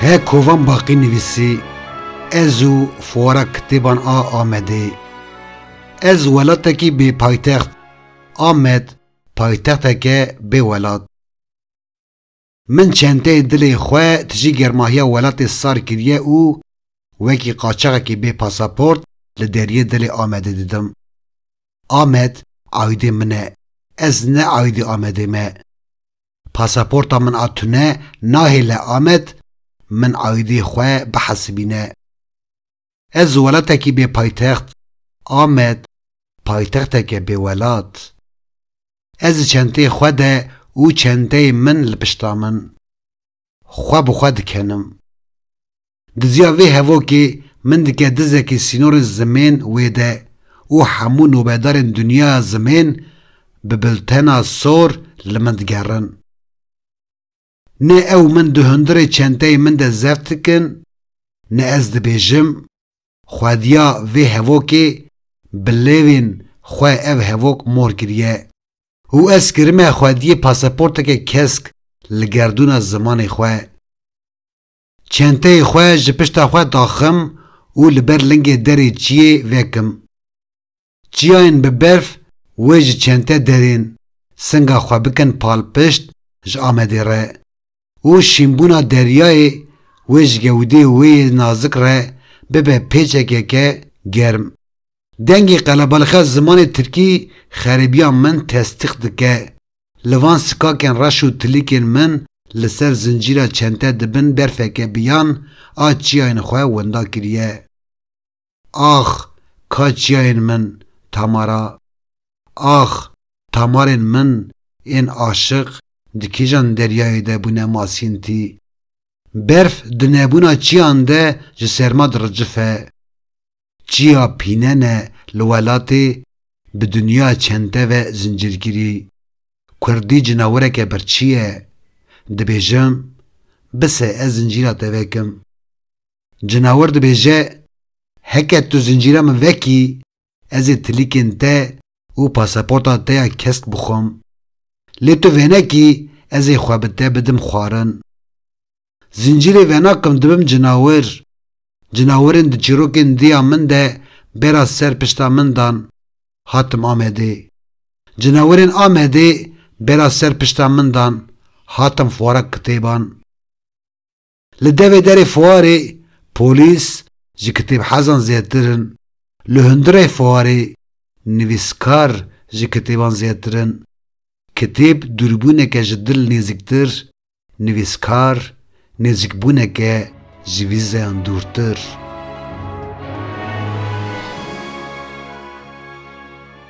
He kovan baqî nivîsî Ez û fuara kitêban a Amedê Ez welatekî bê paytext Amed paytexteke bê welat. Min çenteyê dilê xwe tijî germahiya welatê sar kiriye û wekî qaçaxekî bê pasaport li deriyê dilê Amedê didim. Amed aîdê min e. Ez ne aîdê Amedê me. Pasaporta min a tune nahêle Amed min aîdê xwe bihesibîne. Ez ji welatekî bê paytext, Amed, paytexteke bê welat. Ez ji çenteyê xwe de û çenteyê min li pişta min, xwe bi xwe dikenim. Diziya vê hevokê min dike dizekî sînorên zimên wê de û hemû nobedarên dinyaya zimên bi biltena sor li min digerin. Ne ew min di hundirê çenteyê min de zeft dikin, ne ez dibêjim, xwediya vê hevokê bi lêvên xwe ev hevok mor kiriye û ez kirime xwediyê pasaporteke kesk li gerdûna zimanê xwe. Çenteyê xwe ji pişta xwe daxim û li ber lingê derê çiyê vekim. Çiyayên bi berf wê ji çente derên singa xwe bikin palpişt ji Amedê re û şînbûna deryayê wê ji gewdê wê yê nazik re bibe pêçekeke germ. Dengê qelebalxe zimanê tirkî xerêbiya min testîq dike. Li van sikakên reş û tilîkên min li ser zincîra çente di bin berfeke biyan a çiyayên xwe winda kiriye. Ax ka çiyayên min Tamara Ax Tamarên min ên aşiq di kîjan deryayê de bûne masîntî Berf di nebûna çiyan de ji serma diricife Çiya pînene li welatê bi dinya çente ve zincîrgirî Kurdî cinawireke birçî ye Dibêjim bise ez zincîra te vekim. Cinawir dibêje, Heke tu zincîra min vekî, ez ê tilîkên te û pasaporta te ya kesk bixwim. Lê tu vênekî, ez ê xwe bi te bidim xwarin. Zincîrê venakim dibim cinawir. Cinawirên di çîrokên diya min de bêra ser pişta min dan. Hatim Amedê. Cinawirên Amedê bêra ser pişta min dan. Hatim fuara kitêban. Li devê derê fuarê polîs ji kitêbhezan zêtir in, li hundirê fuarê nivîskar ji kitêban zêtir in, kitêb dûrbûneke ji dil nêzîktir, nivîskar nêzîkbûneke ji vîzeyan dûrtir.